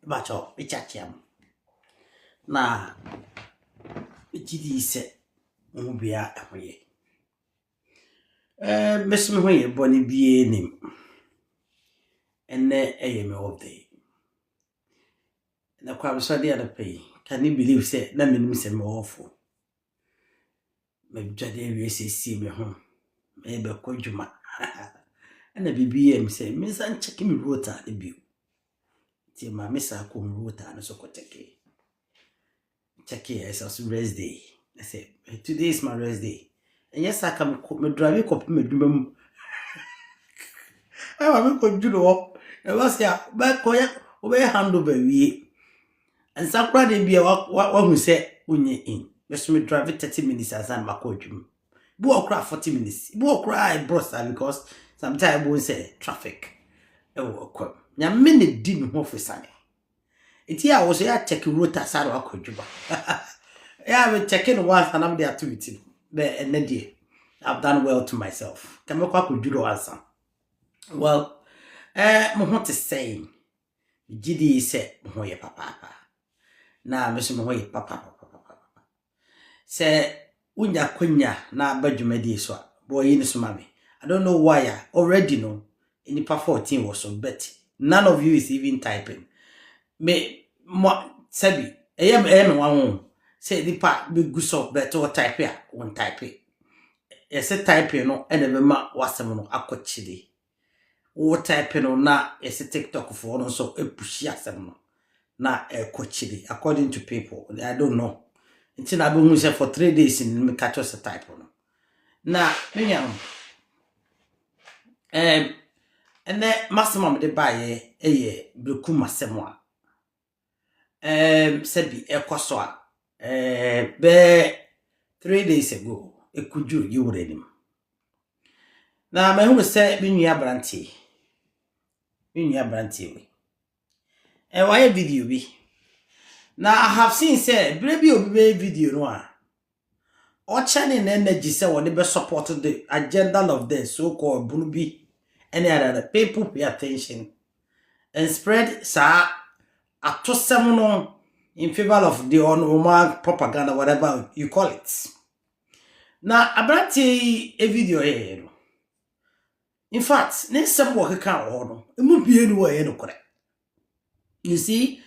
Ɛbɛkyɛ ɛkyakyɛ mu. Na ɛgye di sɛ mo mu biara ɛho yɛ. Ɛɛ mɛsi me ho yɛ bɔ ne biara nim. Ɛnɛ ɛyɛ me off day. Na kwa mesɔre anɔpa yi, can you believe sɛ na menim sɛ me wɔfo. Madwa de awie siesie me ho. Merebɛkɔ adwuma. Ɛna biribi yɛɛ me sɛ mensan nkyɛke me rota no bio. Nti ma me saa kɔɔ me rota no so kɔkyɛkee. Kyɛkee a ɛsɛ so rest day. I said, today is my rest day. And yes, I can me drive it up me do mum. I want me could do the work. And what's ya? Back, oh, yeah, obey handle by we. Nsakorade bia wahu sɛ wonyɛ in bɛso me drive 30 minutes ansa na makɔ adwuma bi wɔ koraa 40 minutes bi wɔ koraa ɛborɔ saa because sometimes ɛbɔ sɛ traffic ɛwɔ ɛkɔm nyame ne di ne ho fo sane ɛti a wɔ so yɛ akyɛke rota saa na wakɔ adwuma yɛ a mekyɛke no once anam de ato me ti no bɛ ɛnɛ deɛ I've done well to myself kɛmɛkɔ akɔdwuro ansa well eh, mo ho te sɛn Megye di sɛ mo ho yɛ papaapa. Na me nso me ho yɛ papapapapapaapa. Sɛ wonya akwanya na aba dwumadie so a, bɔ yi no so ma me. I don't know why a already no nnipa 14 wɔ so but none of you is even typing. Me mo sɛbi ɛyɛ ɛyɛ me nwanwo o. sɛ nnipa bɛgu so but wɔtype a wɔntype. Yɛsɛ typing no ɛna ɛbɛma w'asɛm no akɔ kyiri Wo type no na yɛse TikTok foɔ no nso pushi asɛm no na ɛkɔ akyiri according to people I don't know nti na abɛhu sɛ for three days no meka kyerɛ sɛ type no na me nua no ɛm ɛnɛ masɛm a mede baeɛ ɛyɛ berekum asɛm a um sɛ bi ɛkɔ so a um bɛɛ three days ago ɛkɔduru yɛ wura anim na mahunu sɛ me nua aberanteɛ me nua aberanteɛ wei ɛɛ wayɛ video bi na I have seen sɛ berɛ bi a obi bɛyɛ video no a ɔkyɛnee ne energy sɛ wɔde bɛ support the agenda of the so called bunu bi ɛne adada people pay attention and spread saa atosɛm no in favor of the ɔno wɔn propaganda whatever you call it na aberanteɛ yi e video yɛyɛ no in fact ne nsɛm wɔ keka wɔ hɔ no emu bie no wɔ ɛyɛ nokorɛ you see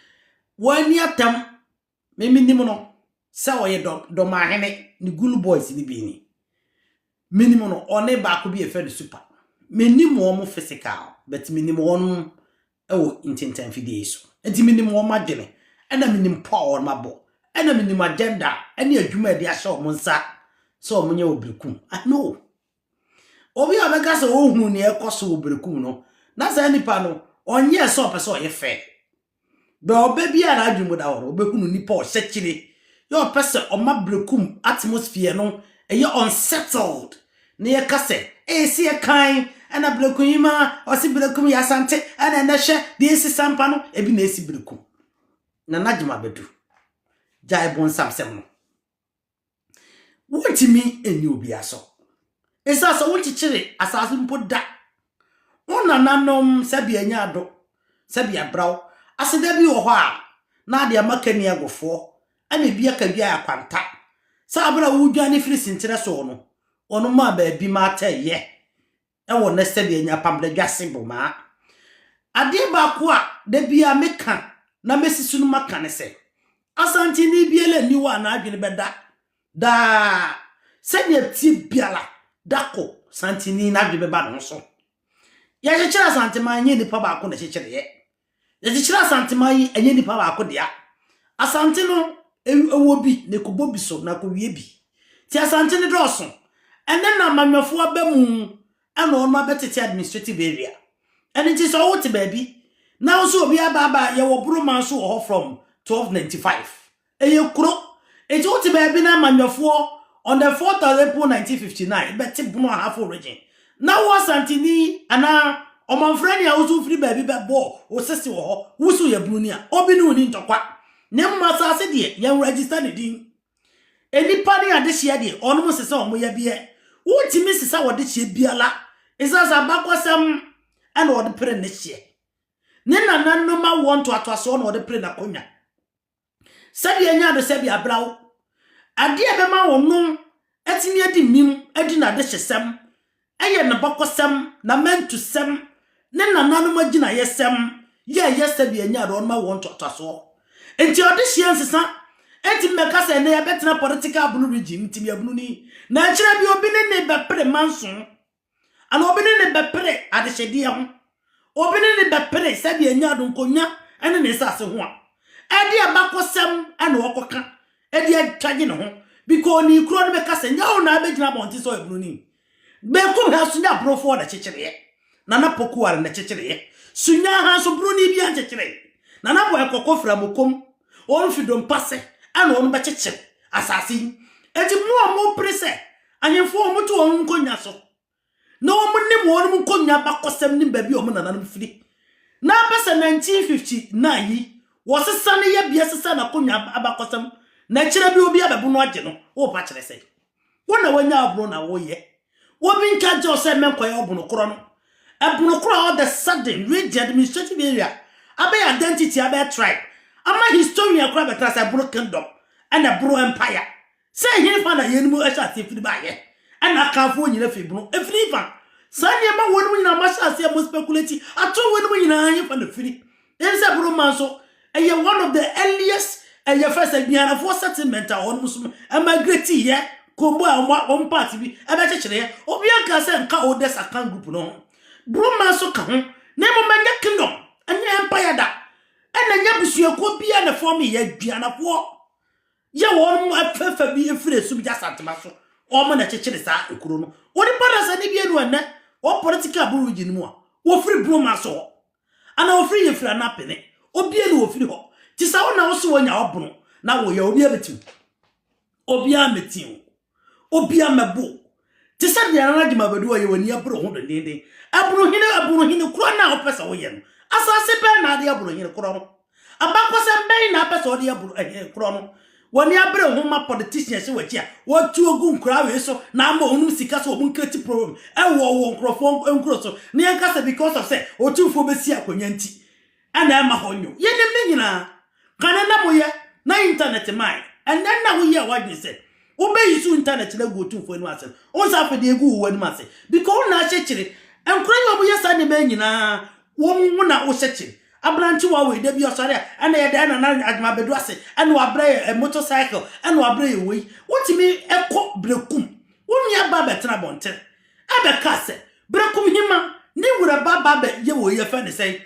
wɔn ani atam me menim no sɛ ɔyɛ dɔ dɔmahene ne gulu boys ne bi ni menim no ɔne baako bi ɛfɛ no super menim wɔn mo physical but menim wɔn ɛwɔ ntintan fidie so nti menim wɔn adwene ɛna menim pɔ a wɔn abɔ ɛna menim agenda ɛne adwuma ɛde ahyɛ wɔn nsa sɛ wɔn nyɛ obirikum i know obi a ɔbɛka sɛ ɔhunu nea ɛkɔ so wɔ obirikum no na saa nipa no ɔnyɛ sɛ ɔpɛ sɛ ɔyɛ fɛ Bɛ ɔbɛ biara n'adwene mu da hɔ no, wobɛhunu nipa ɔhyɛkyere, yɛ ɔpɛ sɛ ɔma berekum atmosphere no yɛ unsettled, na yɛka sɛ, Ese ɛkan ɛna berekum yi ma ɔse berekum yɛ Asante, ɛna ɛnɛ hwɛ deɛ esi Sampa no, ebi na esi berekum. Nana Gyimabɛdu, gyae bonsam sɛm no. Wontumi nni obiara so. Esiane sɛ wonkyekyere asase mpo da. Wo nananom sɛbi anya ado, sɛbi abra wo. Aseda bi wɔ hɔ a, na ade ama kani agofoɔ, ɛna ebi aka dwa a kwanta. Sɛ abere a wodwane firi senkyerɛ soɔ no, wɔn maa baabi ma atɛyɛ. wɔ nnɛ sɛdeɛ yɛanya Pamda Dwase Bomaa. Adeɛ baako a da biara meka na mɛsi so no maka ne sɛ, Asanteni biara nni hɔ a n'adwene bɛda daa sɛdeɛ ɛteɛ biara da kɔ Santeni n'adwene bɛba ne ho so. Yɛkyekyere Asanteman nyɛ nipa baako na ɛkyekyereeɛ. Yɛkyekyere Asanteman yi ɛnyɛ nipa baako dea. Asante no ɛwɔ bi na ɛkɔbɔ bi so na akɔwie bi. Nti Asante no dɔɔso. Ɛnɛ na amanyɔfoɔ aba mu ɛna wɔn abɛtete administrative area. Ɛno nti sɛ wote baabi na wo sɛ obi aba aba yɛwɔ Boroma nso wɔ hɔ from 1295 Ɛyɛ kuro. Nti wote baabi na amanyɔfoɔ on the 4th of April 1959 bɛte bono Ahafo Region. Na wo Asanteni anaa Ɔmanfrani a woso firi baabi bɛbɔ wo sese wɔ hɔ, woso yɛ Broni a, obi ne wo nni ntɔkwa. Na mmom asase deɛ, yɛn register ne din. Nnipa ne adehyeɛ deɛ, wɔnom sesa wɔn yadeɛ. Wontumi nsesa w'adehyeɛ biara. Ɛsiane sɛ abakɔsɛm na wɔde pere nnehyeɛ. Ne nananom awoɔ ntoatoasoɔ na wɔde pere n'akonnwa. Sɛdeɛ ɛnyɛ ade sɛ bia bra wo adeɛ a ɛbɛma wo no atumi adi nim adi n'adehyesɛm, ɛyɛ ne bɔkɔsɛm, n'amantusɛm, ne nananom agyinayɛsɛm yɛ ɛyɛ sɛ bia ɛnyɛ ade ɔnoma wɔn ntoatoasoɔ. Nti ɔdehyeɛ nsesa ɛntumi bɛka sɛ ɛnɛ yɛbɛtena political abunu regime, ntimiabununi, na ɛkyerɛ bi obi ne ne bɛpere manso. Anaa obi ne no bɛpere adehyɛdeɛ ho, obi ne no bɛpere sɛdeɛ ɛnya adonkonya ne ne nsase ho a, ɛde abakɔsɛm na ɔkɔka de atwagye ne ho bikɔ onii korɔ no bɛka sɛ nyɛ wo na abɛgyina abɔnten sɛ ɔyɛ broni. Benkum ha nso nyɛ aborofoɔ na kyekyereeɛ, Nana Pokuare na kyekyereeɛ. Sunya ha nso broni biara nkyekyeree. Nana Boy Kɔkɔ firi Amokom, wɔn firi Dompase na wɔn bɛkyekyere asase yi. Enti mo a mopere sɛ Ahemfo a wɔte wɔn nkonnwa so, na wɔnim wɔn nkonnwa abakɔsɛm ne baabi a wɔn nananom firi. Na apɛ sɛ 1959 yi, wɔsesa ne yɛbea sesa n'akonnwa abakɔsɛm, na kyerɛ bi obi abɛbo no agye no. Worepa kyerɛ sɛ wo na wanya ɔbono na woyɛ. Obi nka nkyɛ wo sɛ mmɛnkɔyɛ ɔbono korɔ no. Ɛbono korɔ a all the sudden region, administrative area, abɛyɛ identity, abɛyɛ tribe, ama historian koraa bɛtena sɛ ɛbono kingdom, ɛna ɛbono empire. Sɛ ɛhefa na yeinom hyɛ aseɛ firi baeɛ? Ɛna Akanfoɔ nyina firi bono ɛfiri hefa? Saa nneɛma wei nom nyina moahyɛ aseɛ mo speculate ato wei nom nyina hefa na firi? Ɛne sɛ bono man nso ɛyɛ one of the earliest ɛyɛ fɛ sɛ Gbianafoɔ settlement a wɔnom nso migrate yɛ Kombo a wɔn part bi ɛbɛkyekyereɛ obia nkaa sɛ nka oldest Akan group no ho bono man nso ka ho na mmom ɛnyɛ kingdom ɛnyɛ empire da ɛna ɛnyɛ abusuakuo bia na form yɛ Gbianafoɔ Yɛ wɔn mu afɛfɛ bi firi esum gye Asantema so, wɔn na ɛkyekyere saa ekuro no. Onipa da sɛ ne bie no ɛnɛ, wɔ political boro region mu a, wɔfiri Broma so hɔ, anaa wɔfiri yɛfiri Anapene, obie no wɔfiri hɔ. Ti sɛ wo na wo se wɔnya ɔbono, na wɔya obi abɛti wo. Obiara mmɛti wo. Obia mmɛbo wo. Te sɛ deɛ Nana Jim Abadu ɔyɛ w'ani abere wo ho dendeenden. Abunu hene, abunu hene korɔ no a wopɛ sɛ woyɛ no, asase bɛn na ade abunu hene korɔ no? Abakɔsɛm bɛn na apɛ sɛ ɔde abunu hene korɔ no? W'ani abere wo ho ma politicians hyɛ w'akyi a wɔtuo gu nkoraa wei so na ama wɔnom sika sɛ wɔn create problem ɛwɔ wɔ nkorɔfoɔ nkuro so na yɛnka sɛ because of sɛ Otumfoɔ bɛsi akonnwa nti Ɛna ɛma hɔ nyo. Yɛnim ne nyinaa. Kane na moyɛ na intanɛt mae. Ɛnnɛ na woyɛ w'adwene sɛ wobɛyi so intanɛt no agu Otumfoɔ anim ase no. Wohu sɛ afei deɛ ɛgu wo w'anim ase. Because wo na ahyɛ kyire. Nkora yi a wɔyɛ saa nneɛma yi nyinaa, wo wo na wohyɛ kyire. Aberantewa wei, da bi ɔsɔre a, ɛna ɛyɛ dɛn na na adwuma abɛduru ase. Ɛna wabrɛ yɛ ɛ motor cycle. Ɛna wabrɛ yɛ wei. Wotumi kɔ Berekum. Wo nua ba abɛtena abɔnten. ɛbɛkaa sɛ, Berekum hema, ne wura ba ba bɛ yɛ wɔ yi ɛfɛ ne sɛn?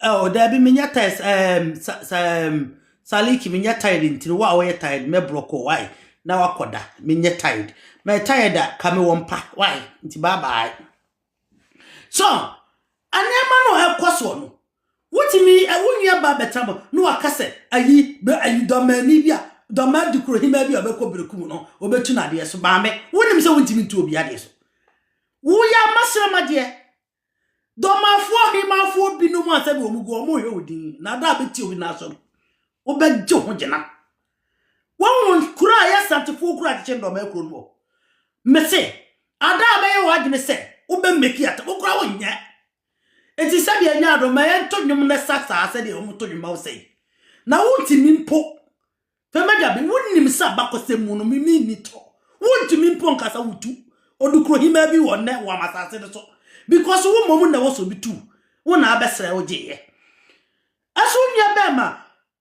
Oh, daabi menyɛ tired um, sa, sa, um, saliki menyɛ tired ntiri wo a wɔyɛ tired mɛbrɔkɔ wae na wakɔda menyɛ tired mɛ tired a ka me wɔ mpa wae nti bye bye So nneɛma no a ɛkɔ soɔ no, wotumi ɛ wo nua ba bɛtena bɔ na waka sɛ ayi bɛ ayi dɔmmaani bi a dɔmmaa dukorohemaa bi a ɔbɛkɔ berekum no ɔbɛtu no adeɛ so maame wonim sɛ wontumi ntu obi adeɛ so woyɛ amasrama deɛ dɔmaafoɔ hemaafoɔ binom a sɛdeɛ wɔn gu wɔn hwɛ wo din na ada a bɛti obi n'aso no wobɛgye ho gyina Woahu kuro a ɛyɛ Asantefoɔ kuro a akyekyɛ nnɔɔmaa kuro no wɔ? Mese, ada a bɛyɛ w'adwene sɛ wobɛ meki ata, wo koraa wonyɛ. Enti sɛdeɛ ɛnyɛ adom, ma yɛnto nnwom no sa saa sɛdeɛ wɔto nnwom ma wo sɛi. Na wontumi mpo. Fɛ m'agya bi, wonim sɛ abakɔsɛm mu no me menni tɔ. Wontumi mpo nka sɛ wotu odukrohemaa bi wɔ nnɛ Wam asase no so because wo mmom na ɛwɔ sɛ obi tu wo na abɛsrɛ wo gyeeɛ. Ɛso nnua bɛn ma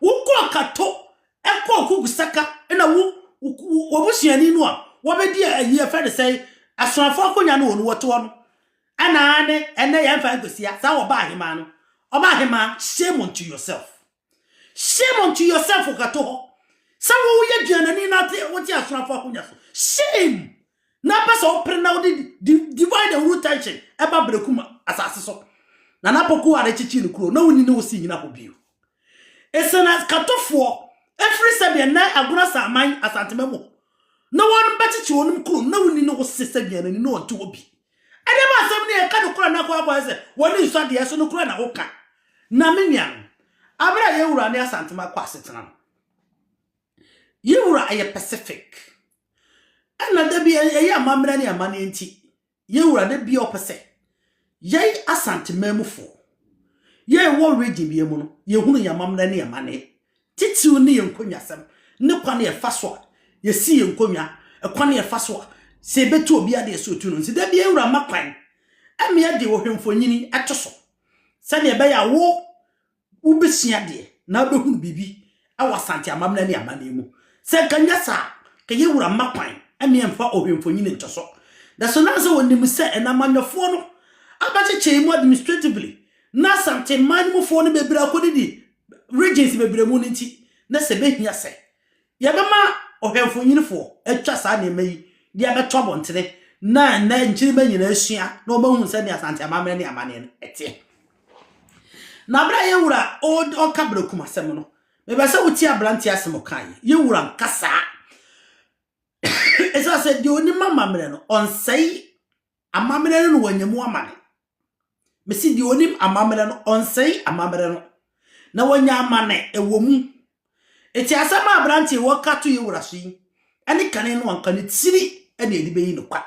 Wo kɔɔ kato ɛkɔɔ kuku saka ɛna wo wɔn suani no a wɔbɛdi ayi ɛfɛ ne sɛn asoafo akonya no wɔn wɔte hɔ no ɛna ne ɛnɛ yɛn fa nkwesia saa wɔba ahemaa no ɔba ahemaa shame unto yourself shame unto yourself kato hɔ sɛ wo yɛ duanani na te wote asoafo akonya so shame Na pɛ sɛ ɔpere na ɔde divide and rule tension ɛba Brekum asase so. Na na Poku a rekyekyere ne kuro na wonni ne wo si nyina hɔ bio. Ese na Katofoɔ ɛfiri sɛdeɛ na Agona Saaman Asantema mu na wɔn bɛkyekye wɔnom kuro na wonni ne wo se sɛdeɛ n'ani na ɔnte hɔ bi. Ɛdeɛ ma asɛm ne ɛka nokorɛ na akɔ akɔyɛ sɛ wɔne nsu adeɛ so nokorɛ na woka. Na me nuanom, abere a yɛn wura ne Asantema kɔ asetena no, Yɛn wura yɛ pacific ɛna da bi ɛyɛ amammerɛ ne amanneɛ nti yɛn wura da bi a ɔpɛ sɛ yɛn asante manmufoɔ yɛn wɔ region bi mu no yɛhunu yɛn amammerɛ ne amanneɛ titiriw ne yɛn nkonnwasɛm ne kwan a ɛfa so a yɛsi yɛn nkonnwa ɛkwan a ɛfa so a sɛ yɛbɛtu obi adeɛ sɛ otu no nti da bi yɛn wura ma kwan ɛmea de ohwɛmfonyini ɛto so sɛdeɛ ɛbɛyɛ a wo Wobɛsua adeɛ na wobɛhunu biribi wɔ Asante amamena ne amanneɛ mu. Sɛ anka nyɛ saa a, anka yɛn wura mma kwan ma yɛmfa Ɔhwɛmfonyini nto so. Nanso na sɛ ɔnim sɛ ɛnna amanyɔfoɔ no abɛkyekyee mu administratively na Asante mman no mufoɔ no bebree akɔdidi regions bebree mu no nti, na sɛ ɛbɛhia sɛ Yɛbɛma ɔhwɛfo nyinifo atwa saa nneɛma yi de abɛto abɔntene na nnɛ nkyirimma nyinaa asua na wɔahu sɛnea Asante amammerɛ ne amanneɛ no teɛ. Na bere a yɛn wura ɔka berekum asɛm no, mepɛ sɛ wotie aberante asɛm ɔka yi. Yɛn wura nkasa. Ɛsɛ sɛ deɛ onim amammerɛ no, ɔnsɛe Amammerɛ no na wɔanya mu amane. Mese deɛ ɔnim amammerɛ no, ɔnsɛe amammerɛ no. Na wɔanya amane wɔ mu. Eti asɛm a aberanteɛ yi ɔka to Yewura so yi, ɛne kane no anka ne tiri ɛna ɛde bɛyi no kwa.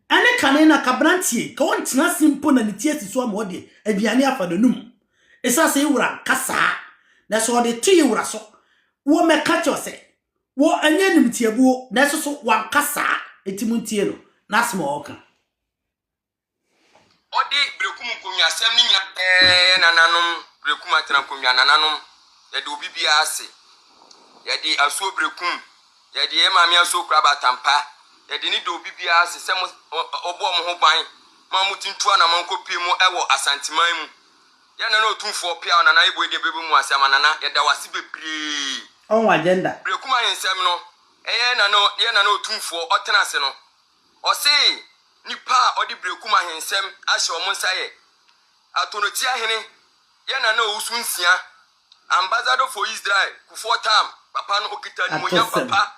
Ɛne kane no anka aberanteɛ yi, ka ɔntena ase mpo na ne ti asi so ama ɔde aduane afa n'anum. Ɛsiane sɛ Yewura anka saa, na sɛ ɔde to Yewura so, wɔmmɛka kyerɛ sɛ, Wo ɛnyɛ animtiabuo nanso so wanka saa enti montie no n'asɛm a ɔka. Ɔde berekum nkonnwasɛm no nyinaa bɛyɛ nananom berekum atena nkonnwa nananom yɛde obi biara ase yɛde asuo berekum yɛde yɛ maame asuo kura batampa yɛde ne de obi biara ase sɛ mo ɔbɔ ɔmo ho ban ma ɔmo ti ntu anamɔn kɔ pie mu ɛwɔ asanteman mu Yɛ nana otumfoɔ peaw nana yɛ boe deɛ bɛbɛ mu ase ama nana yɛda wo ase bebree. Ɔho agenda. Berɛ kuma he nsɛm no ɛyɛ nana yɛ nana otumfoɔ ɔtena ase no ɔsee nipa a ɔde berɛ kuma he nsɛm ahyɛ ɔmo nsa yɛ atonotia hene yɛ nana owusu nsia ambassador for Israel kufoɔ tam papa no okita animonyam Atosɛm. papa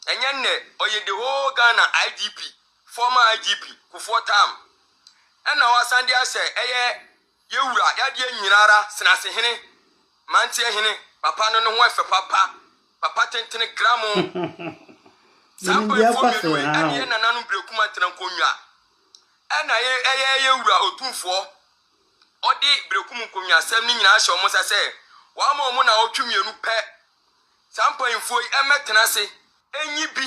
ɛnyɛ nnɛ ɔyɛ the whole Ghana IGP former IGP kufoɔ tam ɛna wasan de ahyɛ ɛyɛ Yɛ Wura, y'adeɛ nyinara senase hene, manteɛ hene, papa no ne ho ɛfɛ papa, papa tentene gramo. Saa mpaeɛfoɔ mmienu wei ɛna yɛ nananom birekum antena nkonnwa ɛna yɛ ɛyɛ yɛ Wura Otumfoɔ ɔde birekum nkonnwasɛm no nyinaa ahyɛ wɔn nsa sɛ w'ama wɔn naawɔtwe mmienu pɛ saa mpaeɛfoɔ yi ɛmmɛtena ase ɛnyi bi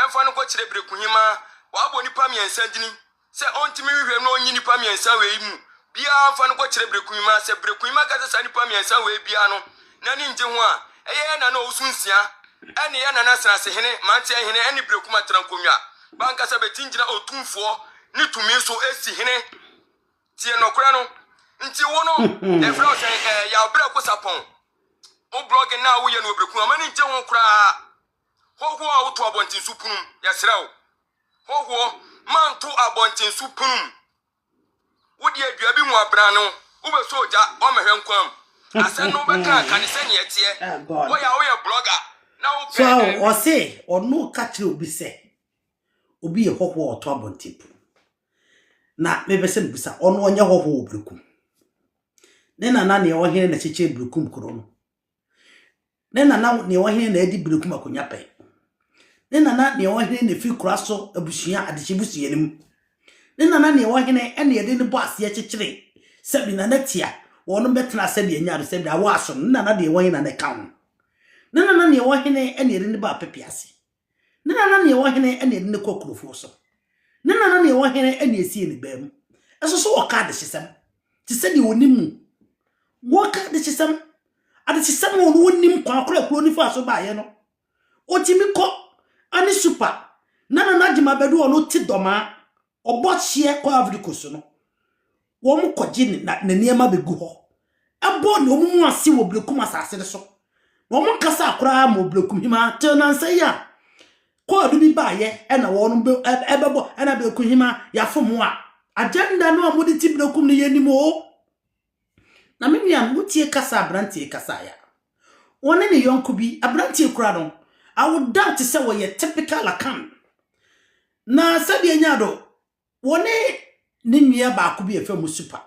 ɛmfa no nkɔkyerɛ birekuhemaa w'abɔ nnipa mmiɛnsa dini Sɛ ontumi nhwehwɛ na onyi nnipa mmiɛnsa wei mu biara mfa no nkɔkyerɛ Brekuima, sɛ Brekuima ka sɛ saa nnipa mmiɛnsa wei biara no n'ani ngye ho a, ɛyɛ yɛn Nana Owusu Nsia ɛne yɛn Nana Asanasehene, Mmeranteɛ Hene ɛne Brekuma Tenankonnwa ba ankasa bɛtim gyina Otumfoɔ ne tumi so asi hene. Tie nɔkorɛ no. Nti wo no, yɛfrɛ wo sɛn? Ɛɛ, Yaw Brɛko Sapɔn. Wo blɔge no a woyɛ no wɔ Brekuma, m'ani ngye ho koraa. Hɔhoɔ a woto abɔntenso pono mu, yɛsrɛ wo, hɔhoɔ ma nto abɔntenso pono mu. Wode adua bi ho abena no, wobɛsɔ ogya, wɔmmɛhwɛ nkwa mu. Asɛm no wobɛka a, ka no sɛnea ɛteɛ. Woyɛ a woyɛ blogger na wopɛ. So aho, ɔse ɔno ka kyerɛ obi sɛ obi yɛ hɔhoɔ a ɔto abɔnten pono mu. Na mepɛ sɛ mebisa, ɔno ɔnyɛ hɔhoɔ wɔ Berekum? Ne nana nea ɔhene na kyekyere Berekum kuro no, Ne na na nea ɔwɔ hene na adi bere kum akonnwa pɛ. Ne na na nea ɔwɔ hene na efi kora so abusua adehye busua no mu. Ne na na nea ɔwɔ hene na yɛde ne bɔ aseɛ kyekyere sɛbi na na tia wɔn bɛtena sɛbi anya do sɛbi awɔ aso no ne na na deɛ ɔwɔ hene na na ɛka ho. Ne na na nea ɔwɔ hene na yɛde ne bɔ apɛpɛ ase. Ne nana nea ɛwɔ hene na ɛde no kɔ akurofoɔ so. Ne nana nea ɛwɔ hene na ɛsie ne baa mu. Ɛso so wɔka adehyesɛm te sɛ deɛ wɔnim mu. Wɔka adehyesɛm, adehyesɛm a wɔn wɔnim kwan korɔ a kuro no faa so baeɛ no. Wɔtumi kɔ ane supa. Nana no agyema bɛdu wɔn te dɔmaa Wɔbɔ hyeɛ kɔ Ivory Coast no, wɔkɔgye ne na ne nneɛma bɛgu hɔ. Ɛbɔ na wɔn mu ase wɔ Berekum asase no so. Na wɔn nkasaa koraa ma Berekum hemaa till nansa yi a kɔɔdo bi baayɛ ɛna wɔn bɛ ɛbɛbɔ ɛna Berekum hemaa yɛafom a agenda no a wɔde ti Berekum no yɛnim o. Na me nuanom, motie kasa a aberanteɛ yi kasaeɛ a, ɔne ne yɔnko bi, aberanteɛ yi koraa no, I would doubt sɛ ɔyɛ typical Akan. Na sɛdeɛ ɛnya do, wɔne ne nua baako bi a ɛfɛ mu Super.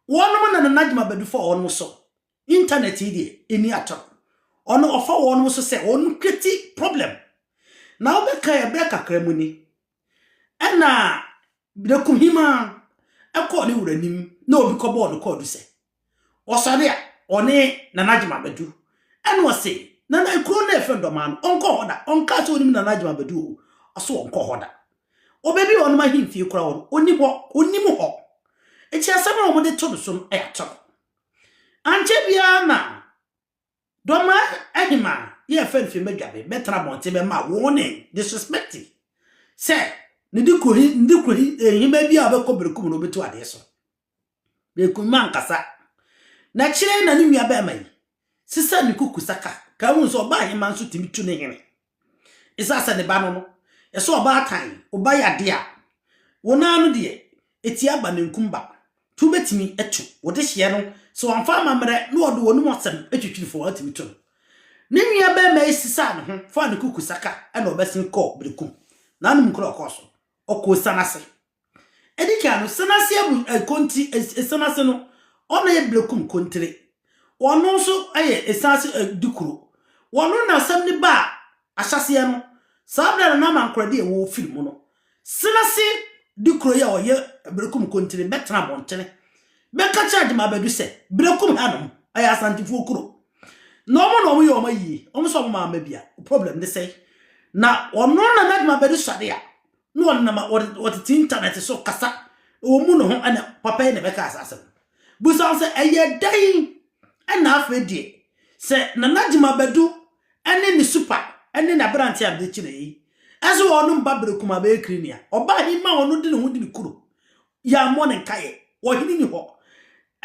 Wɔnom na Nana Jim Abadu fa wɔnom so. Internet yi deɛ, ɛni atoro. Ɔno ɔfa wɔnom so sɛ wɔnom create problem. Na wobɛkae ɛberɛ kakra mu ni, Ɛnna Berekohima kɔɔ ne wura anim na obi kɔbɔɔ no kɔɔdu sɛ, ɔsɔre a, ɔne Nana Agyeman abɛdu. Ɛnna ɔse, Nana, kuro no a yɛfrɛ no Dɔmaa no, ɔnkɔ hɔ da. Ɔnkaa sɛ ɔnim Nana Agyeman abɛdu o, ɔse ɔnkɔ hɔ da. Ɔbaabi a wɔnom ahemfie koraa wɔ no, ɔnni hɔ, ɔnnim hɔ. Enti asɛm a wɔde to no so no, ɛyɛ atoro. Ankyɛ biara na Dɔm aheman yi a fɛn fi mbɛdwa be bɛtena abɔnten bɛma wɔne disrespecti sɛ ne de kohi nde kohi nhema bi a ɔbɛkɔ berekum no ɔbɛtu adeɛ so berekum ma nkasa na kyerɛ na ne nua bɛrima yi sisa ne kuku saka ka hu sɛ ɔba aheman nso tumi tu ne hene Esiane sɛ ne ba no no, ɛsɛ ɔbaatan, wo ba yɛ ade a, wo no ara no deɛ, ɛti aba nankum ba. To bɛtumi to wo dehyeɛ no, sɛ wamfa amammerɛ na ɔde w'anom asɛm twitwiri fo a, watumi to no. Ne nua barima yi sesaa ne ho faa ne kukusaka na ɔbɛsen kɔɔ Berekum. N'anom kuro a ɔkɔɔ so, ɔkɔɔ Osian ase. Edi kan no, san ase abu eh, konti, eh, san ase no, ɔna yɛ blekum kontire. Ɔno nso yɛ eh, san ase eh, dikuro. Ɔno na asɛm no baa ahyɛseɛ no. Saa berɛ no na amankorɛdeɛ a ɛwɔ firi mu no, san ase dikuro yi a ɔyɛ blekum kontire bɛtena abɔntene bɛka kyerɛ Agyema Badu sɛ blekum hanom ɛyɛ Asantefoɔ kuro. Na wɔn na wɔyɛ wɔn ayie, wɔn nso wɔn maa mma bia. Problem ne sɛe. Na ɔno na n'Agyema Badu sɔde a, na ɔnam a wɔde wɔtete intanɛt so kasa ɛwɔ mu no ho ɛna papa yi na ɛbɛka saa asɛm busa ho sɛ ɛyɛ dɛn ɛna afei deɛ sɛ nana gyima bɛdu ɛne ne supa ɛne n'aberante a bɛkyi na yi ɛso wɔnom ba bere kuma bɛyɛ kiri nea ɔbaa bi ma ɔno de ne ho de ne kuro Yɛammɔ no nkaeɛ. Ɔhene nni hɔ.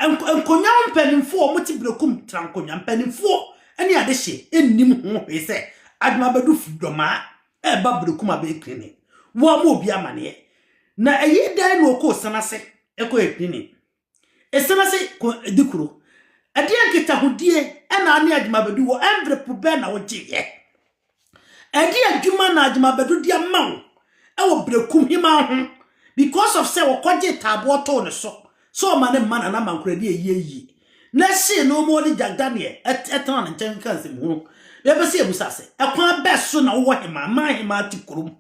Nk nkonnwa ho mpanimfoɔ a wɔte Berekum tra nkonnwa mpanimfoɔ ne adehye nnim ho hwee sɛ Adwumabadu fi Dwɔmaa reba Berekum abɛyɛ Akunini. Wɔammɔ obi amaneɛ. Na ɛyɛ dɛn na ɔkɔɔ Esan ase kɔyɛ Akunini? Esan ase ko di kuro. Ɛdeɛn nkitahodie na ane Adwumabadu wɔ? Mberɛ po bɛn na wogyeeɛ? Ɛde adwuma na adwumabɛdo de ama wo wɔ Berekumhemaa ho because of sɛ wɔkɔgyee taaboɔ too ne so sɛ ɔma ne mma Nana Mankoradi ayi ayie na ɛhyee no ma ɔne Jack Daniel tena ne nkyɛn ka nsɛmhunu. Yɛpɛ sɛ yɛbisa sɛ, ɛkwan bɛ so na wowɔ hemaa ma ahemaa te kurom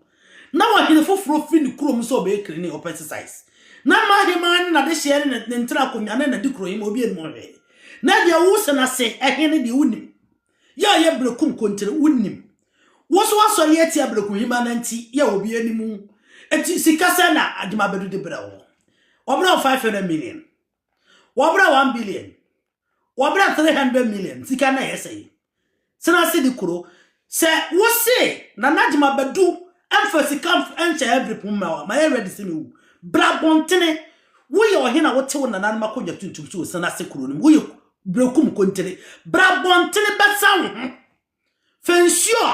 na ɔhene foforɔ firi ne kurom sɛ ɔbɛyɛ cleaning or pesticides na ma ahemaa ne n'adehyeɛ ne ne ntra akonnwa ne n'adikurohema obi anim hwee na deɛ wosɛ no ase ɛhe ne deɛ wonim Yɛ a ɔyɛ Berekum Kontere wo nnim. Wo so asɔre atia Berekum Hema na nti yɛ a obiara nnim wo. Enti sika sɛn na Agyemabadu de brɛ wo? Wɔbrɛ wo five hundred million. Wɔbrɛ one billion. Wɔbrɛ three hundred million. Sika na ɛyɛ sɛn? Sena se de kuro. Sɛ wo se Nana Agyemabadu mfa sika nhyɛ yɛ Berekum Hema wa ma yɛ ready se ne wu. Bra abɔntene. Wo yɛ ɔhene a wo te wo nananom akonnwa tuntum so wɔ Sena se kuro no mu. Wo yɛ Berɛ kum kontene. Bra bɔntene bɛsa wo ho. Fɛ nsuo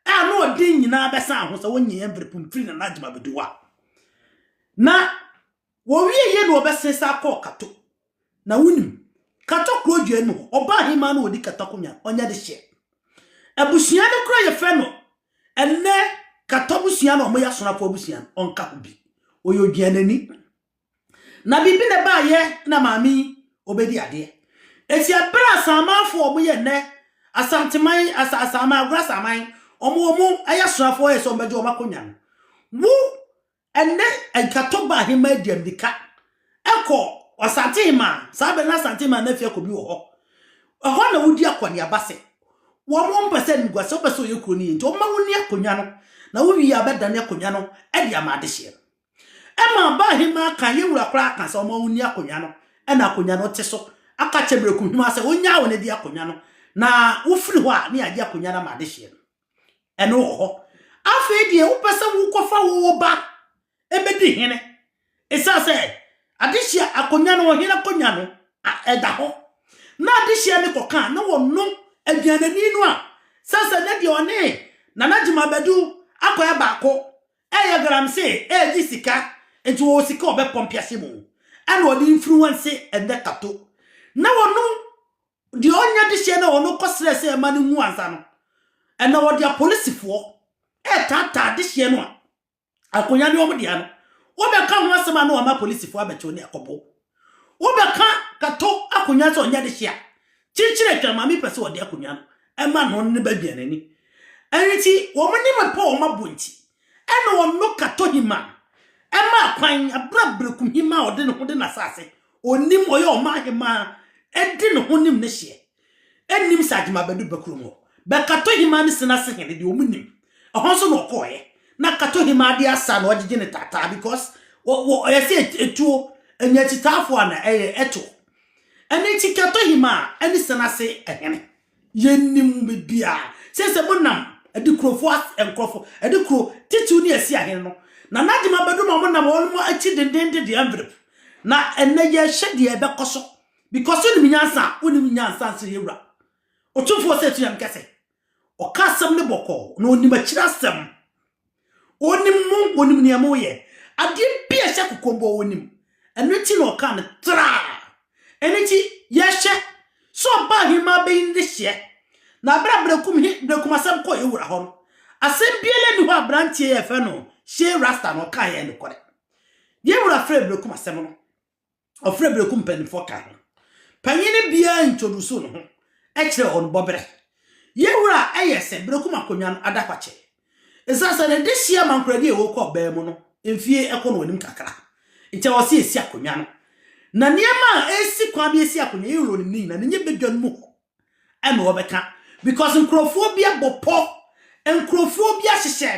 a ano ɔden nyinaa bɛsa aho sɛ wonye yɛn vere pum firi Nana Agyima Beduwa. Na wɔwie yie na wɔbɛsen sa kɔɔ Kato. Na wonim, Kato kuro dua no mu hɔ, ɔbaa ahemaa no ɔdi Kato akonnwa, ɔnyɛ de hyeɛ. Abusua no koraa yɛfrɛ no ɛnnɛ Kato abusua na wɔyɛ Asonafo abusua no, ɔnka ho bi. Ɔyɛ odwianani. Na biribi na ɛbaeɛ na maame yi ɔbɛdi adeɛ. Eti abere a Asamanfoɔ ɔmo yɛ nnɛ, Asanteman, Asa, Asaman, Agorɔ Asaman, ɔmo ɔmo ɛyɛ asonafoɔ yɛ sɛ ɔmo bɛgye ɔmo akonya no. Wo ɛnnɛ nkatɔ ba aheman di amirika ɛkɔ Ɔsantehemaa, saa abere na Asantehemaa na afia kɔ bi wɔ hɔ. Ɛhɔ na wodi akɔneaba sɛ wɔn wɔn mpɛ sɛ nugua sɛ wopɛ sɛ ɔyɛ kuro no yɛ nti ɔmo ma wonni akonya no na wowie a bɛdane akonya no ɛde ama adehyeɛ no. Ɛma ɔbaa ahemaa ka yɛn wura koraa ka sɛ ɔma ɔnni akonnwa no na akonnwa no te so, aka kyerɛ mmerɛkohima sɛ ɔnnyaa wo no di akonnwa no, na wofiri hɔ a ne yɛagye akonnwa no ama adehyeɛ no. Ɛno wɔ hɔ. Afei deɛ wopɛ sɛ wokɔfa wo wo ba ɛbɛdi hene, ɛsiane sɛ adehyeɛ akonnwa no ɔhene akonnwa no ɛda hɔ na adehyeɛ no kɔka a na wɔno aduanani no a sɛ sɛ ne deɛ ɔne Nana Gyima Badu akɔyɛ baako Ɛyɛ galamsee, ɛregye sika, nti wɔwɔ sika a wɔbɛpɔ mpease mu, ɛna wɔde mfiri wɔn se ɛnyɛ tato, na wɔnom deɛ ɔnyɛ dehyeɛ no a wɔnom kɔ srɛ sɛ ɛma no nwu ansa no, ɛna wɔde apolisifoɔ ɛretaataa dehyeɛ no a akonnwa ne wɔn dea no, wɔbɛka ho asɛm a na wɔama apolisifoɔ abɛkyew ne akɔbɔ. Wo bɛ ka kato akonwa sɛ ɔnyɛ dehye a, kyikyire hwɛ maame pɛ sɛ ɔde akonwa no ɛma no ne ba duane ni. Ɛnti wɔn nim ɛpɔ wɔn abɔ nti ɛna ɔno kato hima no ɛma akwan abra breku hima a ɔde ne ho de n'asase ɔnim ɔyɛ ɔman hima ɛde ne ho nim ne hyeɛ Nnim sɛ agyem abɛdu Bakurom hɔ. Bɛ Katohemaa ne Sinase hene deɛ ɔmo nim. Ɛhɔ nso na ɔkɔɔeɛ. Na Katohemaa de asa na ɔgyegye ne taataa because ɔyɛ sɛ etuo, Anyakyitaafoɔ ana ɛyɛ ɛtoɔ. Ɛno nti Katohemaa ɛne Sinase hene. Yɛnnim bibiaa. Seisei mo nam Adikurofo ase, nkorɔfo, Adikuro, Titiw ne Asia hene no. Na n'agyem abɛdu ma ɔmo nam ɔnom akyi dendenden de envelope. Na ɛnɛ yɛrehwɛ deɛ ɛbɛkɔ so Because wonim nyansa a, wonim nyansa nso yɛ wura. Otumfoɔ Osei Tunyame ka sɛ, Ɔka asɛm no bɔkɔɔ, na onim akyiri asɛm. Onim mo, onim nea moyɛ. Adeɛ bi a ɛhyɛ kokombɔ onim. Ɛno nti na ɔkaa no traa. Ɛno nti, yɛhwɛ sɛ ɔbaa ahemaa bɛyi no de hyeɛ. Na berɛ a Berekum he, Berekum asɛm kɔɔ yɛ wura hɔ no, asɛm biara nni hɔ a aberanteɛ yi a yɛfrɛ no Shey Rasta no ɔkaeɛ a ɛyɛ nokorɛ. Yɛ wura frɛɛ Berekum asɛm no. Ɔfrɛ Bereku mpaninfoɔ ka ho. Panyini biara introduce ne ho kyerɛ wɔn bɔberɛ. Yɛn wura yɛ sɛ Bereku ma konwa no ada kwakye. Esiane sɛ ne dehyeɛ amankoradi a ɛwɔ kɔ ɔbaa mu no mfie kɔ no anim kakra nti ɛwɔ sɛ yɛsi akonwa no. Na nneɛma a ɛsi kwan bi ɛsi akonwa yɛn wura ɔnim ne nyinaa na ɛnyɛ badwa no mu hɔ. ɛna ɔbɛka because nkurɔfoɔ bi abɔ pɔ nkurɔfoɔ bi ahyehyɛ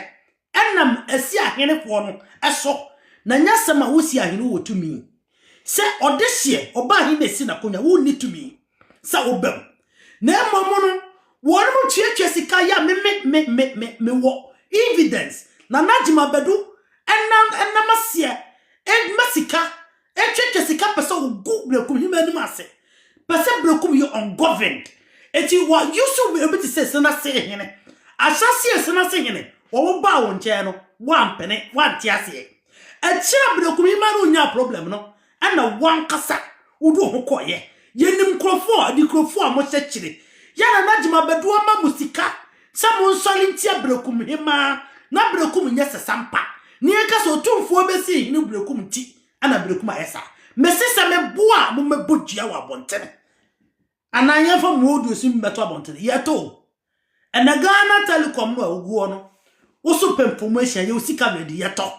ɛnam asi ahene koɔ no ɛso na nyɛ asɛm a wosi ahene wɔ tumi sɛ ɔde hyeɛ ɔba ahene na esi n'akonya wonni tumi sɛ wobam na mmom no wɔn mo tuatua sika yɛ me me me me me me wɔ evidence na n'agyima bɛdu ɛnam ɛnam aseɛ ɛma sika Ɛtwetwe sika pɛ sɛ ɔgu Brekum hema anim ase pɛ sɛ Brekum yɛ ungoverned enti wa use obi te sɛ Senase hene ahyɛaseɛ Senase hene wɔn baa wɔn nkyɛn no wampene wante aseɛ akyire a Brekum hema no nyaa problem no ɛna wankasa wode wo ho kɔɔyɛ yɛnim nkurɔfoɔ adikurofoɔ a wɔhyɛ kyire yɛna na gyima bɛdoɔ ma mo sika Sɛ monsɔre ntia Berekum hemmaa, na Berekum nyɛ sasampa, na yɛnka sɛ otumfoɔ bɛsi hene Berekum nti na Berekum ayɛ saa. Mese sɛ me bo a mommɛbɔ dua wɔ abɔntene, anaa yɛmfa mmuoduosi mmɛto abɔntene. Yɛto o. Ɛnɛ Ghana Telecom no a woguɔ no, wo so pɛmfo mu ahyia, yɛwɔ sika ready, yɛtɔ.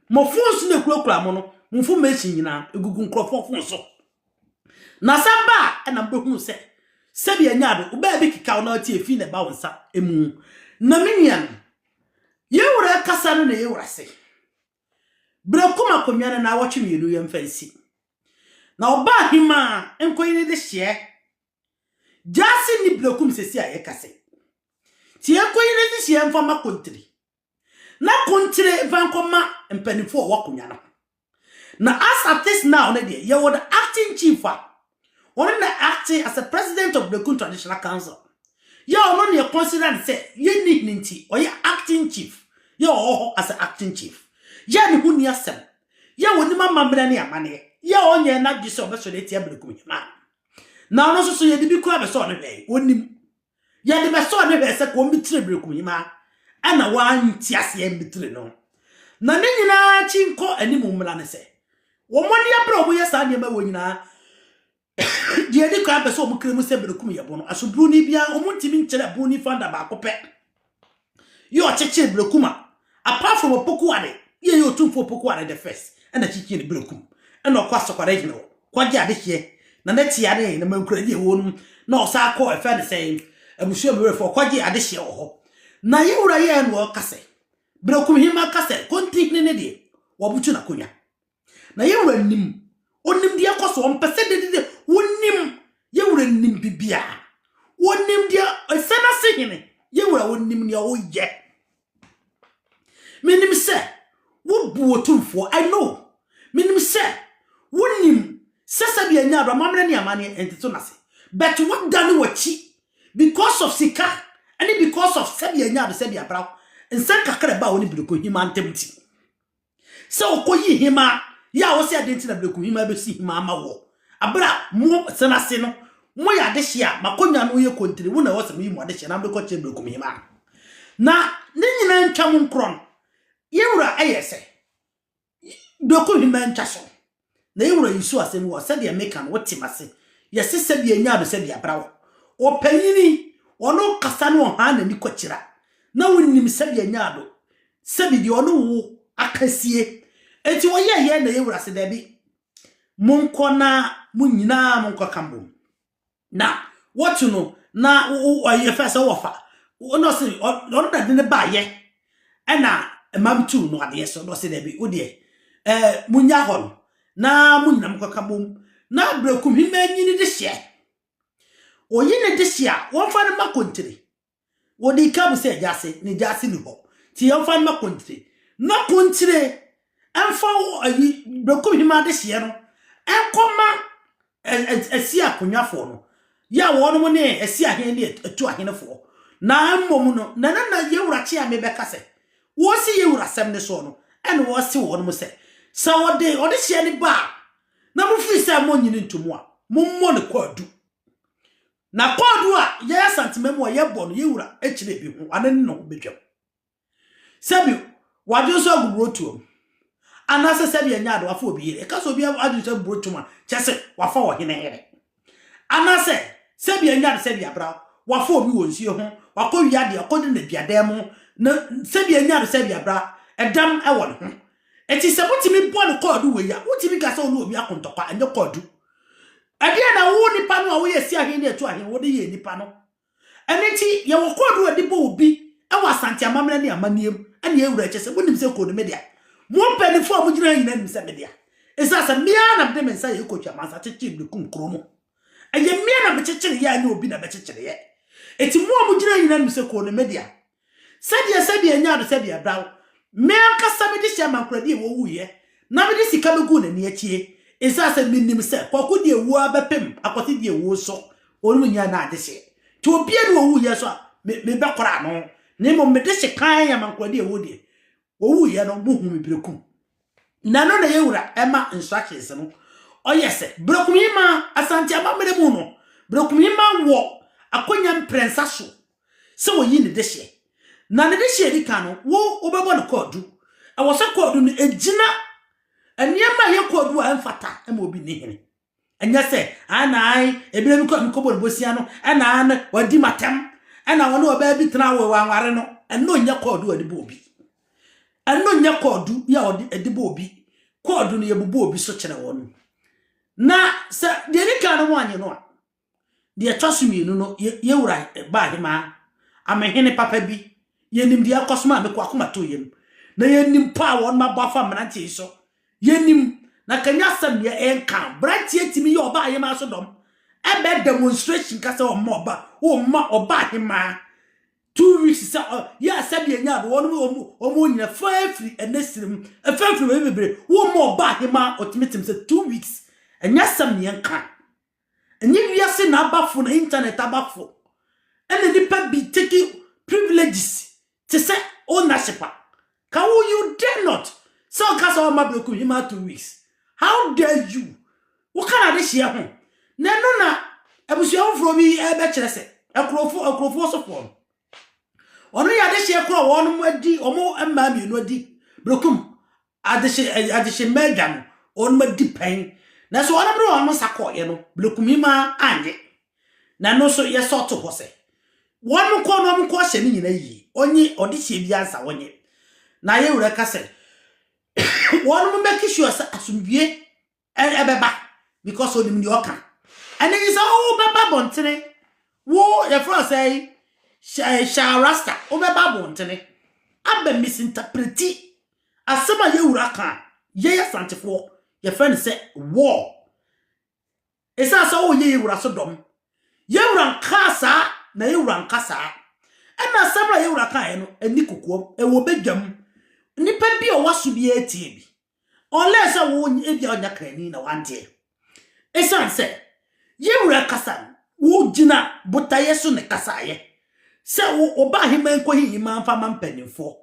Mo phones no a ɛkurakura mo no, mo information nyinaa, ɛgugu nkurɔfoɔ phone so. Na sɛ ba a, ɛna mobɛhunu sɛ sɛdeɛ ɛnyɛ ade, wo baabi keka wo na ɔte efii na ɛba wo nsa mu. Na me nuanom, yɛn Wura akasa no na yɛn Wura se, Berɛ kom akonnwa no naawɔtwe mmienu yɛmfa nsi, na ɔbaa hemaa nkɔyi ne dehyeɛ. Gyaase nni berɛ kom sɛsi a yɛka se, Te yɛnkɔyi ne dehyeɛ mfa ma kontiri. na ko nkyere mfa nkɔma mpanyimfo a wɔwɔ akonnwa no ho. Na as at this now no deɛ, yɛwɔ the acting chief a ɔno na acting as a president of Berekum Traditional Council. Yɛ ɔno na yɛconsider no sɛ yɛnni hene nti, ɔyɛ acting chief. Yɛ ɔwɔ hɔ as a acting chief. Yɛ ne ho nni asɛm. Yɛ ɔnim amammerɛ ne amanneɛ. Yɛ ɔnyɛɛ n'adwene sɛ ɔbɛsɔre atia Berekum hene a na ɔno nso so yɛde bi koraa bɛsɔɔ no hwɛe, ɔnnim. Yɛde bɛsɔɔ no hwɛɛ sɛ kɔmmitire berekumhima na wante aseɛ ammitire no. Na ne nyinaa akyi nkɔ anim mmara ne sɛ, wɔn ani abere a wɔyɛ saa nneɛma wɔ nyinaa, deɛ ɛdi kan bɛsɔ wɔn kra mu sɛ berekum yɛ bono. Asoburoni biara, wɔntumi nkyerɛ buroni founder baako pɛ. Yɛ ɔkyekyere berekum a apart from opoku ade yɛ yɛ otumfo opoku ade the first ɛna kyekyere ne berekum ɛna ɔkɔ asɔkwara gyina hɔ kɔgye ade hyeɛ na n'atia ne na mankura deɛ ɛwɔ nom na ɔsaa kɔ ɛfɛ ne sɛ abusua mu werɛfo ɔkɔgye ade hyeɛ wɔ hɔ na yɛ wura yɛ ɛna ɔka sɛ berekum hema ka sɛ konti hene ne deɛ wɔbutu n'akonnwa Na yɛn wura nim, ɔnim deɛ ɛkɔ so, ɔmpɛ sɛ dedede, ɔnim, yɛn wura nim bibiara, ɔnim deɛ ɛsɛ no ase hene, yɛn wura ɔnim deɛ ɔyɛ. Menim sɛ wobu otumfoɔ, I know, menim sɛ wonim sɛ sɛbi ɛnyɛ ado amammerɛ ne amanneɛ ɛnte so n'ase, but wodane w'akyi because of sika ɛne because of sɛbi ɛnyɛ ado sɛbi abraw nsɛm kakra ɛbaa wo ne Bidokohima ntam nti. sɛ ɔkɔyi hema yɛ a wɔsɛ adɛn nti na berɛku hema bɛsi hema ama wɔ aberɛ a mo sena ase no moyɛ adehye a makɔnya no yɛ kontiri wo na ɛwɔ sɛ meyi mo adehye na mekɔ kyerɛ berɛku hema na ne nyinaa ntwa mo nkorɔ no yɛwura ɛyɛ sɛ berɛku hema ntwa so Na yɛ wura Yusu asɛm wɔ sɛdeɛ meka no wote mase, yɛse sɛdeɛ nyaa no sɛdeɛ abra wɔ. Ɔpanyini ɔno kasa no ɔhaa n'ani kwakyira na wonim sɛdeɛ nyaa no sɛbi deɛ ɔno wo aka sie enti ɔyɛ yɛ na yɛ wura se daabi monkɔ na mo nyinaa monkɔ ka mbom. Na wɔkye no na yɛfɛ sɛ wɔfa na ɔse ɔno na de no baayɛ ɛna mmam tuu no adeɛ so na ɔse daabi wodeɛ ɛɛ munya hɔ no na mo nyinam kɔka bom na berɛkum hema nyini de hyeɛ oyi ne de hyeɛ a wɔmfa no ma kontiri Wɔdii ka bu sɛ gyaase ne gyaase nni hɔ, nti yɛmfa mma Kontre. Na Kontre mfa ayi Berekumhima adehyeɛ no nkɔma Asia Akonwafoɔ no, yɛ a wɔnom ne Asia hene ne Atu ahenefoɔ. Na mmom no, na na na Yawura Kyeame bɛka sɛ, wɔsi Yawura asɛm no soɔ no, ɛne wɔse wɔnom sɛ, sɛ wɔde ɔdehyeɛ no ba a, na mofiri sɛ monnye no ntomu a, mommɔ no kwaadu. Na kɔɔdu a Yɛn Asantema mu a yɛbɔ no yɛn Wura kyerɛ bi ho ano ne ne ho bɛtwam. Sɛbi wɔadwene so agu burotoam, anaasɛ sɛbi ɛnyɛ ade wɔafa obi yere. Ɛka sɛ obi adwene so agu burotoam a, kyerɛ sɛ wɔafa ɔhene yere. Anaasɛ sɛbi ɛnyɛ ade sɛbi abra wɔafa obi wɔ nsuo ho, wakɔ wia deɛ ɔkɔ gyina aduadan mu, na sɛbi ɛnyɛ ade sɛbi abra ɛdam wɔ ne ho. Enti sɛ motumi bɔ no kɔɔdu wei a, wotumi ka sɛ wo ne obi ako ntɔkwa, ɛnyɛ kɔɔdu. Ɛdeɛn na wo nipa no a woyɛ si ahen ne atu ahen wode yɛ nipa no? Ɛno nti yɛwɔ code a yɛde bɔ obi wɔ Asante amammerɛ ne amanneɛ mu ɛne yɛwura ɛkyɛ sɛ monim sɛ code me dea. Mo mpaninfoɔ a mogyina ha nyinaa nim sɛ me dea. Ɛsiane sɛ me ara na mede me nsa yɛ coach amansa kyekyere de kum kuro no. Ɛyɛ me ara na mekyekyereeɛ anyɛ obi na bɛkyekyereeɛ. Ɛti mo a mogyina ha nyinaa nim sɛ code no me dea. Sɛdeɛ sɛdeɛ ɛnyɛ ade sɛ deɛ ɛbra wo, me ankasa mede hyɛɛ Mankoradi a wɔwuiɛ na mede sika bɛguu n'ani akyie, ɛsiane sɛ menim sɛ Kwaku deɛ wuo ara bɛpem akɔte deɛ wuo nso ɔnom nnya nna adehyeɛ, nti obiara nni hɔ a ɔwuiɛ nso a me mebɛkora ano, na mmom mede hye kann a Mankoradi a ɛwɔ deɛ wɔwuiɛ no mohuu me berɛ kum Na ɛno na ɛyɛ wura ɛma instructions no. Ɔyɛ sɛ Berekumima Asante amammerɛ mu no, Berekumima wɔ akwanya mprɛnsa so sɛ ɔyi ne dehyeɛ. Na ne dehyeɛ a ɛdi kan no, wo wobɛbɔ no kwaadu. Ɛwɔ sɛ kwaadu no ɛgyina nneɛma a ɛyɛ kwaadu a ɛmfata ma obi ne hene. Ɛnyɛ sɛ, Ana ae, ɛberɛ bi kɔ a mekɔbɔɔ no bosea no, ɛna aane, wadi m'atɛm, ɛna ɔne ɔbaa bi tenaa awoe wanware no. Ɛno nyɛ kɔɔdu a wɔde bɔ obi. Ɛno nyɛ kɔɔdu a wɔde bɔ obi. Kɔɔdu no, yɛbobɔ obi so kyerɛ wɔn. Na sɛ deɛ ɛdi kan no wɔannye no a, Deɛ ɛtɔ so mmienu no, yɛ, yɛn wura baa he maa amehene papa bi. Yɛnim deɛ ɛkɔ so maa meko akoma too yam. Na yɛnim pɔ a wɔn abɔ afa mmeranteɛ yi so. Yɛnim, na ka nyɛ asɛm deɛ ɛnka no, beranteɛ tumi yɛ ɔbaa he maa so dɔm. Ɛbɛ demonstration ka sɛ ɔmma ɔba, ɔmma ɔbaa he maa two weeks sɛ ɔ, yɛ asɛ deɛ nyaa do, wɔn, wɔn, wɔn nyina fa afiri ɛnɛ sirim, ɛfa afiri baabi bebree, wɔmma ɔbaa he maa ɔtumi tem sɛ two weeks. Ɛnyɛ asɛm deɛ ɛnka. Ɛnyɛ wiase na abafo na internet abafo ɛna nnipa bi take privileges te sɛ ownership a ka wo you dare not sɛ ɔka sɛ ɔma bɛku hima two weeks how dare you woka na adehyeɛ ho na ɛno na abusua foforɔ bi ɛbɛkyerɛ sɛ akurofo akurofoɔ sofoɔ no ɔno yɛ adehyeɛ korɔ wɔn adi wɔn mmaa mmienu adi bɛkum Adehye adehye Mɛda no, wɔnom adi pɛn. Nanso wɔnom de wɔnom nsa kɔɔeɛ no, Blekumim ara annye. Na ɛno nso yɛsɔ to hɔ sɛ, wɔnom kɔ na wɔnom kɔɔhyɛ no nyina yie. Ɔnye ɔdehyeɛ biara nsa wɔnye. Na yɛn Wura ka sɛ, wɔnom mmɛke sure sɛ asomdwie ɛbɛba because onim deɛ ɔka ɛne nye sɛ wobɛba bɔntene wo yɛfrɛ sɛ hyɛ rasta wobɛba bɔntene abɛ misinterpreti asɛm a yɛwura ka yɛyɛ asantefoɔ yɛfrɛ no sɛ war ɛsiane sɛ woyɛ yɛwura so dɔm yɛwura nkaa saa na yɛwura nka saa ɛna asɛm a yɛwura kaeɛ no ɛni kokoam ɛwɔ bɛdwam nnipa bi a ɔwɔ so bi atie bi Unless sɛ wo ebia ɔnyɛ krani na wanteɛ. Ɛsiane sɛ yɛn wura kasa no, wogyina botaeɛ so na ɛkasaeɛ. Sɛ wo ɔbaa heman nkɔhi heman mfa ma mpanimfoɔ.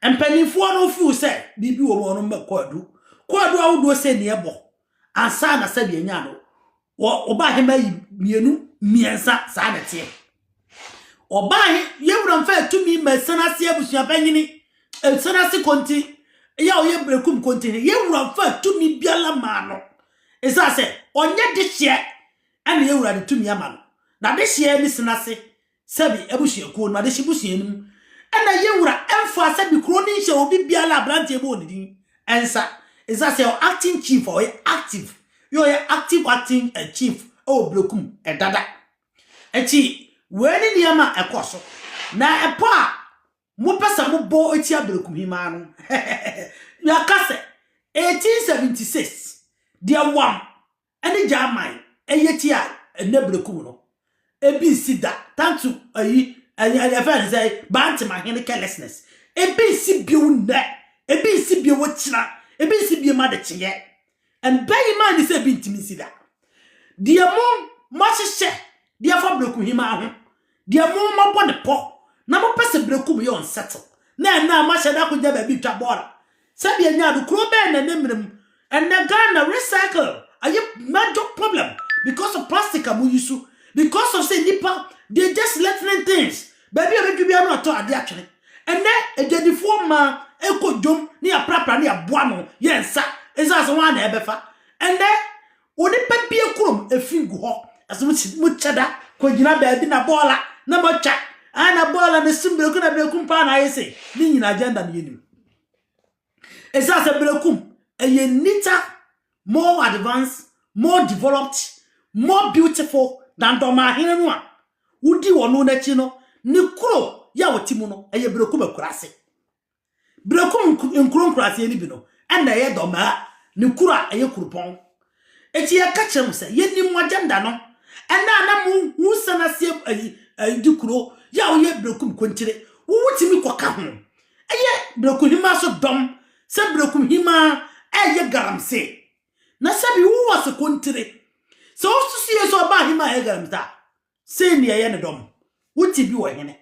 Mpanimfoɔ no feel sɛ biribi wɔ mu a wɔn mma kɔadu. Kɔadu ahodoɔ sɛ ni ɛbɔ ansa na sɛdeɛ ɛnya no Wɔ ɔbaa he mma yi mmienu mmiɛnsa saa na ɛteɛ. Ɔbaa he yɛ wura mfa atumi ma ɛsan ase abusua panyini ɛsan ase konti yɛ a ɔyɛ brekum konti he yɛ wura mfa atumi biara maa no ɛsan sɛ ɔnyɛ de hyeɛ ɛna yɛ wura de tumi ama no na de hyeɛ ne san ase Sɛbi abusuakuo no adehye busua no mu na ye wura ɛmfaa sɛbi kuro no nhyɛ obi biara abranteɛ bɔɔ ne din nsa ɛsan sɛ ɔyɛ acting chief a ɔyɛ active yɛ ɔyɛ active acting chief ɛwɔ Brekum ɛdada ɛkyi wei ne nneɛma a ɛkɔ so na ɛpɔ a mo pɛ sɛ mo bɔ ɛtia Brekum hemaa no yɛaka sɛ 1876 deɛ wam Ɛne Gyaman ɛyɛ ti a ɛnɛ brɛku mu no, ebi nsi da, tantu ayi, yɛfrɛ no sɛ Bantemahene carelessness, ebi nsi bio nnɛ, ebi nsi bio wɔ kyina, ebi nsi bio ma de kyeɛ. And bɛn yi maa ni sɛ ebi ntumi nsi da. Deɛ mo, mo ahyehyɛ de afa brɛkuhemaa ho, Deɛ mo ma bɔ ne pɔ na mo pɛ sɛ brekum yɛ unsettle na ɛnɛ a mo ahyɛ da akogya baabi twa bɔɔla sɛdeɛ ɛnyɛ ado kuro bɛn na ɛne mmerɛ mu ɛnɛ Ghana recycle ayɛ major problem because of plastic a mo yi so because of sɛ nipa they just letting things baabi a bɛdwi biara no atɔ adeɛ atwene ɛnɛ adwadifoɔ mmaa ɛkɔ dwom ne yɛaprapra ne yɛboa no yɛ nsa ɛsɛ sɛ wɔn a na ɛbɛfa ɛnɛ Wo ne pa bia kurom efi ngu hɔ. Ɛsɛ mo si mo kyɛda kɔ gyina baabi na bɔɔla na mo atwa. Ah na bɔɔla na sim breku na brekum paa na ayɛ sei. Ne nyina agenda no yɛnim. Ɛsɛ sɛ brekum ɛyɛ nita more advanced more developed more beautiful than dɔmahene no a wodi wɔn no n'akyi no ne kuro yɛ a wɔte mu no ɛyɛ brekum akurase. Berekum nkuro nkuraaseɛ no bi no na ɛyɛ Dɔmaa ne kuro a ɛyɛ kurupɔn. Enti yɛka kyerɛ mo sɛ yɛnim mo agenda no ɛna a na mo ho sane aseɛ ayi ayi di kuro yɛ a woyɛ Berekum Konkyire wo wotumi kɔka ho ɛyɛ Berekuhemaa so dɔm sɛ Berekuhemaa ɛyɛ Galamsey na sɛbi wowɔ se Konkyire sɛ wosusu yɛ sɛ ɔbaa hemaa ɛyɛ Galamsey a Sei ne ɛyɛ ne dɔ mo. Wo te bi wɔ hene?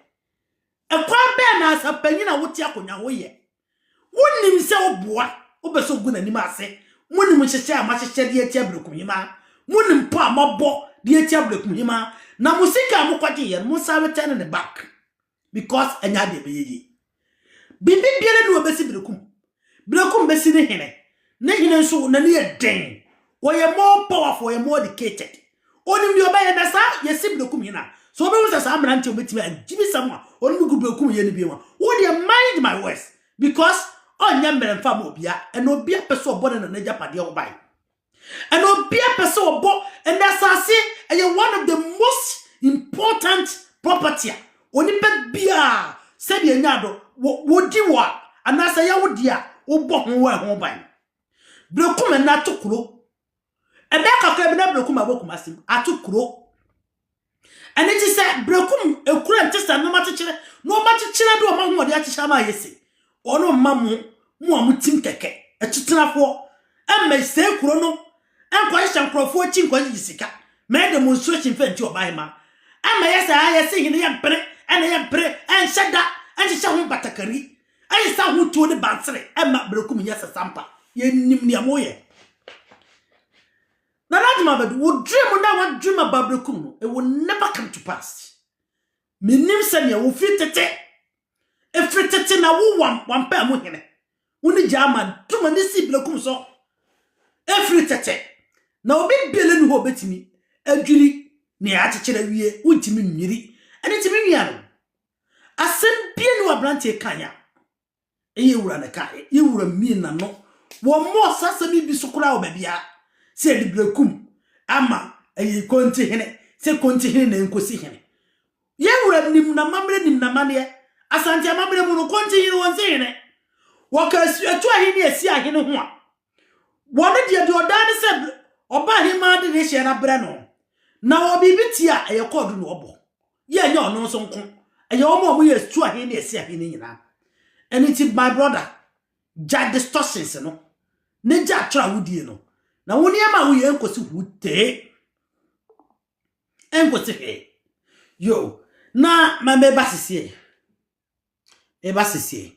Ɛkwan bɛn na asapanyin a wote akonnwa ho yɛ? Wonnim sɛ woboa, wopɛ sɛ ogu n'anim ase. Monim nhyehyɛe a moahyehyɛ de atia Berekumhemaa. Monim pɔ a moabɔ de atia Berekumhemaa. Na mo sika a mokɔgyeeɛ no, monsan retɛne no back. because ɛnyɛ adeɛ ɛbɛyɛ yie. Biribi biara ni wɔbɛsi Berekum. Berekum bɛsi ne hene. Ne hene nso n'ani yɛ den. Ɔyɛ more powerful, ɔyɛ more educated. Ɔnim deɛ ɔbɛyɛ na saa yɛsi Berekum hene a, sɛ ɔbɛhu sɛ saa mmeranteɛ ɔbɛtumi agyibisɛm a ɔne no gu Berekum yɛ no bio a, wo deɛ mind my words because ɔnyɛ mmerɛ mfa ma obiara, ɛna obiara pɛ sɛ ɔbɔ ne nana agyapadeɛ ho ban. And obia pɛ sɛ ɔbɔ and asase ɛyɛ one of the most important property a onipa biaa sɛdeɛ nya do wɔdi wɔ a anaasɛ ɛyɛ wo deɛ a wobɔ ho wɔ ɛho ban. Brekum and ato kuro ɛbɛyɛ kakra bi na brekum abɔ Kumasi ato kuro. Ɛno nti sɛ breku mu ekura nte sɛ nnoɔma kyekyere, nnoɔma kyekyere de wɔn ahoɔden akyekyere ama ayɛ sei, ɔno mma mo, mo a motim kɛkɛ, akyitenafoɔ, mmɛsɛe kuro no, nkɔhyehyɛ nkurɔfoɔ akyi nkɔgyegye sika, mɛyɛ demonstration mfa nti ɔbahemaa. Ɛma ɛyɛ sɛ ayɛ se hene yɛmpere, ɛna yɛmpere, ɛnhyɛ da, ɛnhyehyɛ ho batakari, ɛsesa ho tuo ne bansere, ɛma breku mu nyɛ sɛ sampa. Yɛnim nea moyɛ. Nana Ado Mabɛdo, wo dream no a woadream aba berɛ kum no, it will never come to pass. Mennim sɛdeɛ wo firi tete, ɛfiri tete na wo wam wampaa mu hene, wo ne gyaama tom ani sii berɛ kum so, ɛfiri tete na obi biara nni hɔ a ɔbɛtumi adwiri nea akyekyere awie, wontumi nnwiri, ɛno nti me nuanom, asɛm biara nni hɔ aberanteɛ kan a, ɛyɛ wura na ɛka yɛ yɛ wura mie na no wɔn mo ɔsa asɛm yi bi so koraa wɔ baabi a sɛ yɛde birekum ama ɛyɛ konti hene sɛ konti hene na nkosi hene yɛ wura nim na mammerɛ nim na maneɛ asante amammerɛ mu no konti hene wɔn si hene wɔka atu ahene asi ahene ho a Wɔn deɛ deɛ ɔdaa ne sɛ ɔba ahemaa de ne hyɛn no abrɛ no, na ɔwɔ biribi tie a ɛyɛ kɔɔdo na ɔbɔ. Yɛ ɛnyɛ ɔno nso nko, ɛyɛ wɔn a wɔyɛ tu ahe ne ɛsi ahe no nyinaa. Ɛno nti my brother, gyae distortions no, ne gya atwerɛ a wodie no, na wo nneɛma a woyɛ ɛnkɔsi hu tee. Ɛnkɔsi hee. Yo, na ma meba sesie. Meba sesie.